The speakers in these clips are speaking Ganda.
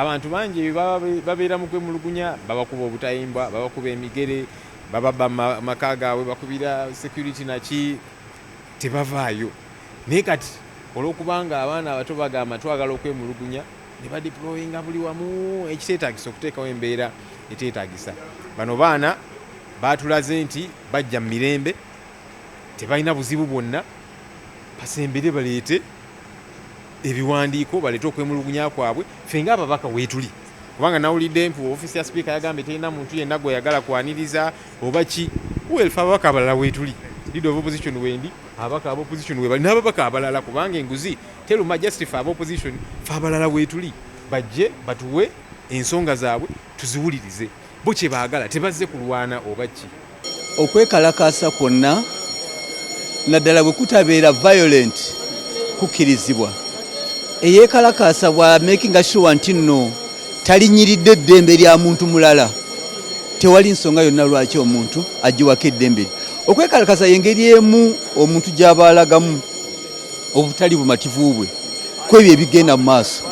Abantu bangi babeera mu kwemulugunya, babakuba obutayimbwa, babakuba emigere, bababba maka gaabwe, bakubira security naki, tebavaayo. Naye kati olw'okubanga abaana abato bagamba twagala okwemulugunya, ne badiployinga buli wamu ekiteetagisa okuteekawo embeera eteetagisa. Bano baana baatulaze nti bajja mu mirembe, tebalina buzibu bwonna, basembere baleete. ebiwandiiko baleete okwemulugunya kwabwe ffe nga ababaka weetuli kubanga nawulidde nti ofiisi ya sipiika yagambye terina muntu yenna gwe yagala kwaniriza oba ki welfe ababaka abalala weetuli leader of opposition wendi ababaka aba opposition webali n'ababaka abalala kubanga enguzi teruma just fe aba opposition fe abalala weetuli bajje batuwe ensonga zaabwe tuziwulirize Bo kye baagala tebazze kulwana oba ki? Okwekalakaasa kwonna naddala bwe kutabeera violent kukkirizibwa. Eyeekalakaasa bwa makinga sure nti nno talinyiridde eddembe lya muntu mulala tewali nsonga yonna lwaki omuntu agiwako eddembe lye. Okwekalakaasa y'engeri emu omuntu gy'aba alagamu obutali bumativu bwe ku ebyo ebigenda mu maaso.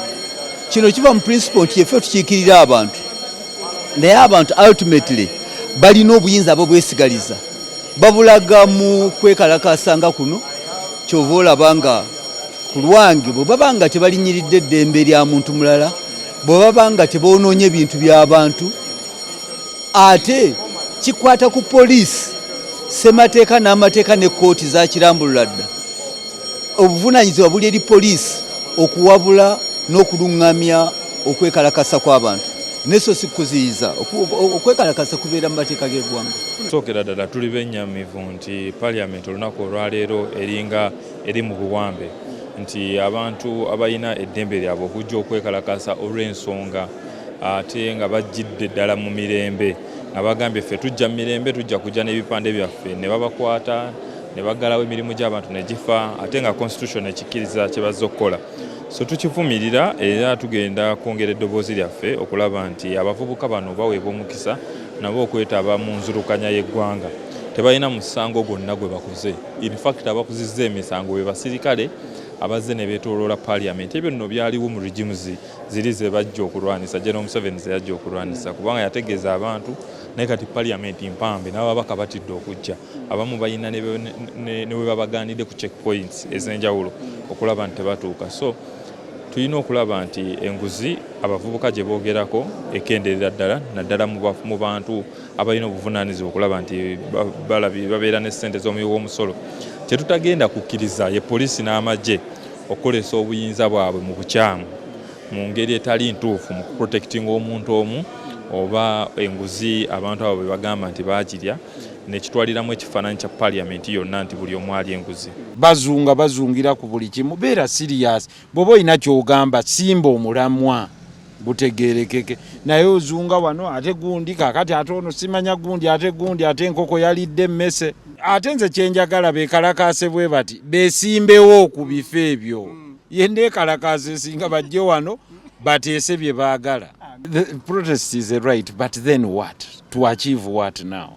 Kino kiva mu principle nti effe tukiikirira abantu. naye abantu ultimately balina obuyinza abo bwesigaliza babulaga mu kwekalakasa nga kuno kyova olaba nga ku lwange bwe baba nga tebalinyiridde eddembe lya muntu mulala bwe baba nga teboonoonye ebintu by'abantu ate kikwata ku poliisi ssemateeka n'amateeka ne kkooti zakirambulula dda Obuvunaanyizibwa buli eri poliisi okuwabula n'okulungamya okwekalakasa kw'abantu naye so si kuziyiza okwekalakasa kubeera mu mateeka g'eggwanga. Sookera ddala tuli bennyamivu nti parliament olunaku olwaleero eringa eri mu buwambe nti abantu abalina eddembe lyabwe okujja okwekalakasa olw'ensonga ate nga bajjidde ddala mu mirembe. nga bagambye ffe tujja mirembe tujja kujja n'ebipande byaffe ne babakwata ne baggalawo emirimu gy'abantu ne gifa ate nga constitution ekikkiriza kye bazze okukola so tukivumirira era tugenda kwongera eddoboozi lyaffe okulaba nti abavubuka bano baweebwa omukisa nabo okwetaba mu nzirukanya y'eggwanga tebalina musango gwonna gwe bakoze infact abakuzizza emisango be basirikale abazze ne beetooloola parliament ebyo nno byaliwo mu regimes ziri zebajja okulwanisa General Museveni zeyajja okulwanisa kubanga yategeeza abantu naye kati parliament mpambe n'ababaka batidde okujja abamu balina ne webabagaanidde ku check points ez'enjawulo okulaba nti tebatuuka so tulina okulaba nti enguzi abavubuka gye boogerako ekenderera ddala naddala mu bantu abalina obuvunaanyizibwa okulaba nti babeera ne ssente z'omuwi w'omusolo kyetutagenda kukkiriza ye poliisi n'amagye okukozesa obuyinza bwabwe mu bukyamu mu ngeri etali ntuufu mu kuprotekitinga omuntu omu oba enguzi abantu abo bebagamba nti bagirya nekitwaliramu ekifaananyi kya parliament yonna nti buli omu ali enguzi bazunga bazungira ku buli kimu beera sirias bwoba olina kyogamba simba omulamwa gutegerekeke naye ozunga wano ate gundi kakati ate ono simanya gundi ate gundi ate enkoko yalidde emmese ate nze kyenjagala bekalakaase bwe bati besimbewo ku bifo ebyo mm. ye nekalakaasa esinga bajje wano bateese bye baagala protest is a right but then what to achieve what now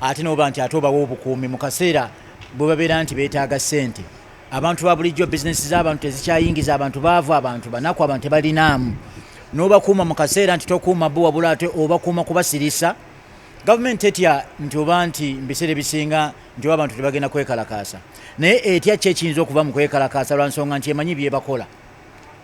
ate noba nti ate obawa obukuumi mu kaseera bwe babeera nti beetaaga ssente abantu ba bulijjo bizinesi z'abantu tezikyayingiza abantu baavu abantu banaku abantu tebalinaamu n'obakuuma mu kaseera nti tokuuma bo wabula ate obakuuma kubasirisa gavumenti etya nti oba nti mubiseera ebisinga nti oba abantu tebagenda kwekalakaasa naye etya ki ekiyinza okuva mu kwekalakaasa lwa nsonga nti emanyi byebakola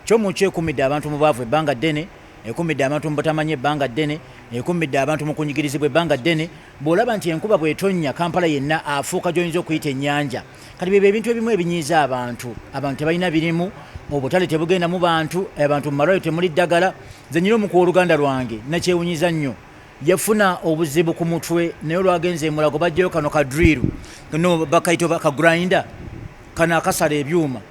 Comuco ekummidde abantu mu bwavu ebbanga ddene, ekummidde abantu mu butamanya ebbanga ddene, ekummidde abantu mu kunyigirizibwa ebbanga ddene. Bw'olaba nti enkuba bw'etonnya Kampala yenna afuuka gy'oyinza okuyita ennyanja. Kati byebyo ebintu ebimu ebinyiiza abantu. Abantu tebalina birimu, obutale tebugenda mu bantu, abantu mu malwaliro temuli ddagala. Nze nyina omu ku w'oluganda lwange nakyewunyiza nnyo yafuna obuzibu ku mutwe naye olwagenze emulago bajjayo kano kadriru no bakayita ka grinder kano akasala ebyuma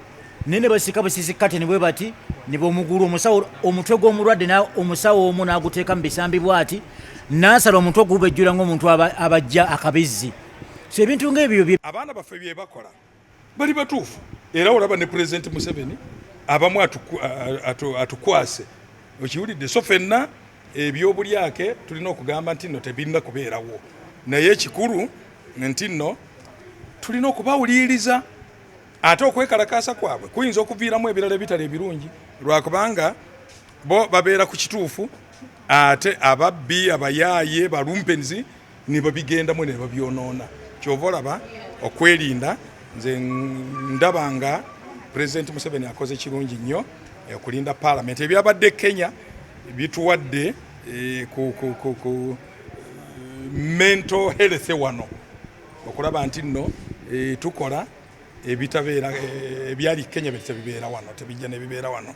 naye ne basika busisi kateni bwe bati ne bamugula omusawo omutwe gw'omulwadde omusawo omu n'aguteeka mu bisambi bwati n'asala omutwe ogubejjula ng'omuntu abajja akabizzi so ebintu ng'ebyo abaana baffe bye bakola bali batuufu era olaba ne pulezidenti museveni abamu atukwase okiwulidde so fenna ebyobulyake tulina okugamba nti no tebirina kubeerawo naye ekikulu nti no tulina okubawuliriza Ate okwekalakaasa kwabwe kuyinza okuviiramu ebirala ebitali ebirungi lwakubanga bo babeera ku kituufu ate ababbi abayaaye balumpenzi nebabigendamu nebabyonoona kyova olaba okwerinda nze ndaba nga pulezidenti museveni akoze kirungi nnyo eh, okulinda paalamenti ebyabadde kenya bituwadde eh, ku eh, mental health wano okulaba nti nno tukola ebitabeera eh, ebyali kenya tebibeera wano tebijja nebibeera wano